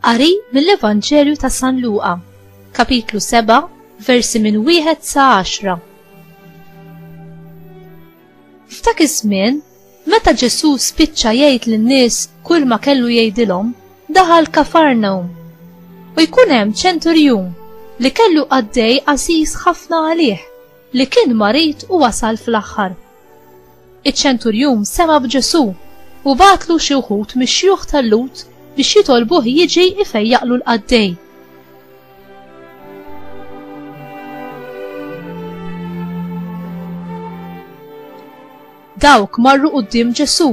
Qari mill-Evanġelju ta' San Luqa, kapitlu 7, versi minn wieħed sa 10. F'dak iż-żmien Meta Ġesù spiċċa jgħid lin-nies kulma kellu jgħidilhom, daħal Kafarnawm. U jkun hemm ċenturjun li kellu qaddej għażiż ħafna għalih, li kien marid u wasal fl-aħħar. Iċ-ċenturjun sema' b'Ġesù u bagħatlu xi wħud mix-xjuħ tal-Lut biex jitolbuh jiġi ifejjaqlu l-qaddej. Dawk marru quddiem Ġesù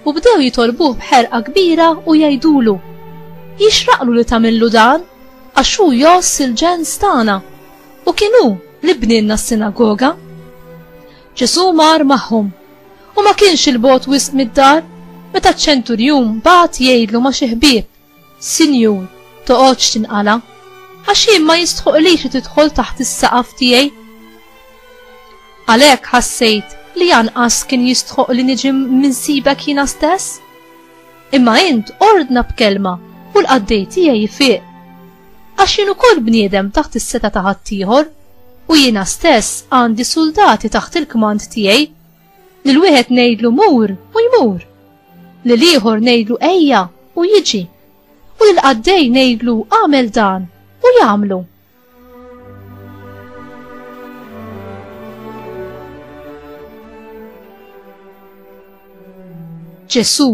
u bdew jitolbuh b'ħerqa kbira u jgħidulu, Jixraqlu li tagħmillu dan, għax hu jgħożż il-ġens tagħna, u kien hu li bnielna s-sinagoga. Ġesù mar magħhom, u ma kienx 'il bogħod wisq mid-dar, meta ċ-ċenturjun bagħat jgħidlu ma' xi ħbieb, Sinjur, toqgħodx tinqala', għax hi ma jistħoqilhiex li tidħol taħt is-saqaf tiegħi. Għalhekk ħassejt li anqas kien jistħoq li niġi minsibek jiena stess. Imma int ordna b'kelma u l-qaddej tiegħi jfiq. Għax jien ukoll bniedem taħt is-seta ta' ħaddieħor u jiena stess għandi suldati taħt il-kmand tiegħi Lil wieħed ngħidlu mur u jmur. Lil ieħor ngħidlu ejja u jiġi. U lil qaddej ngħidlu għamel dan u jagħmlu. Ġesu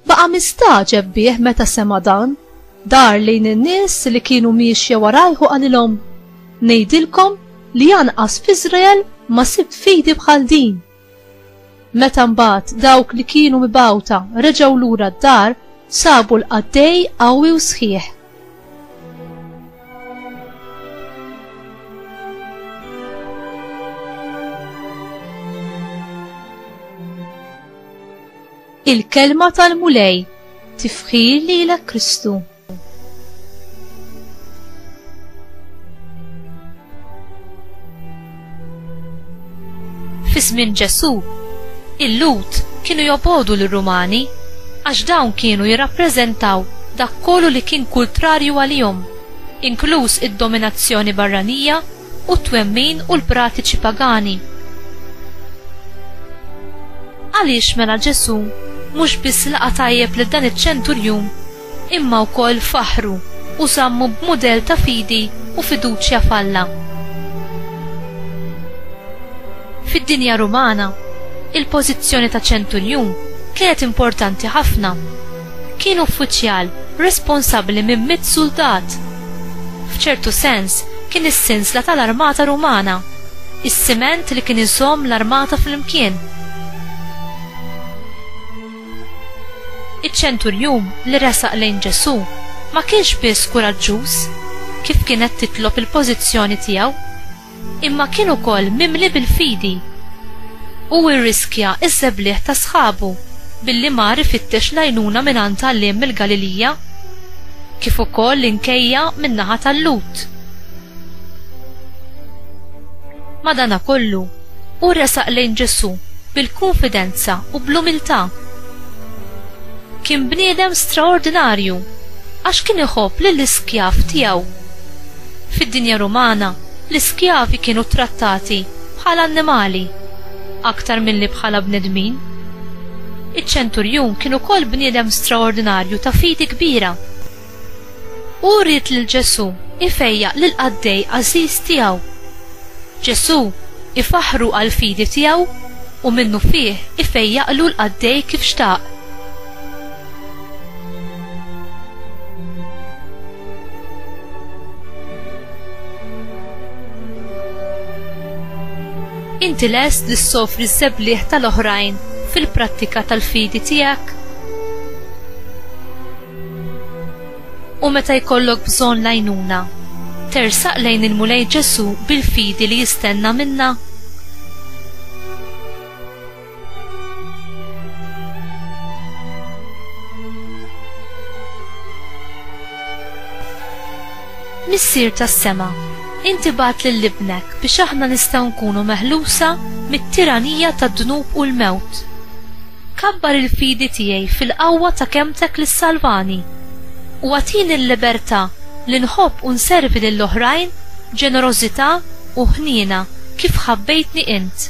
Baqa' mistagħġeb bih meta sema' dan, dar lejn in-nies li kienu miexja warajh u qalilhom, Ngħidilkom li anqas f'Iżrael ma sibt fidi bħal din! Meta mbagħad dawk li kienu mibgħuta reġgħu lura d-dar, sabu l-qaddej qawwi u sħiħ. Il-kelma tal-Mulej, tifħir lilek Kristu. Fis-żmien Ġesù, il-Lut kienu jobodu lir-Rumani għax dawn kienu jirrappreżentaw dak kollu li kien kultrarju għalihom, inkluż id-dominazzjoni barranija u t-twemmin u l-pratiċi pagani. Għaliex mela Ġesù mhux biss laqa' tajjeb lil dan iċ-ċenturjun imma wkoll faħru u żammu b'mudell ta' fidi u fiduċja f'Alla. Fid-dinja Rumana, il-pożizzjoni ta' ċenturjun kienet importanti ħafna. Kien uffiċjal responsabbli minn mitt suldat. F'ċertu sens, kien is-sinsla tal-armata Rumana, is-siment li kien iżomm l-armata flimkien. Iċ-ċenturjun li resaq lejn Ġesù ma kienx biss kuraġġuż kif kienet titlob il-pożizzjoni tiegħu, imma kien ukoll mimli bil-fidi. Hu rriskja ż-żebliegħ ta' sħabu billi mar ifittex l-għajnuna mingħand għalliem mill-Galilija, kif ukoll l-inkejja min-naħa tal-Lhud. Madanakollu, hu resaq lejn Ġesù bil-kunfidenza u bl-umiltà. Kien bniedem straordinarju għax kien iħobb lill-iskjav tiegħu. Fid-dinja Rumana, l-iskjavi kienu ttrattati bħala annimali aktar milli bħala bnedmin. Iċ-ċenturjun kien ukoll bniedem straordinarju ta' fidi kbira. Hu ried lil Ġesù jfejjaq lill-qaddej għażiż tiegħu. Ġesù ifaħħru għall-fidi tiegħu u minnufih ifejjaqlu l-qaddej kif xtaq. Inti lest li ssofri ż-żebliegħ tal-oħrajn fil-prattika tal-fidi tiegħek? U meta jkollok bżonn l-għajnuna, tersaq lejn il-Mulej Ġesù bil-fidi li jistenna minna? Missier tas-sema, inti bagħat lil ibnek biex aħna nistgħu nkunu meħlusa mit-tiranija tad-dnub u l-mewt. Kabbar il-fidi tiegħi fil-qawwa ta' kemtek li salvani u għatini l-libertà li nħobb u nservi lill-oħrajn ġenerożità u ħniena kif ħabbejtni int.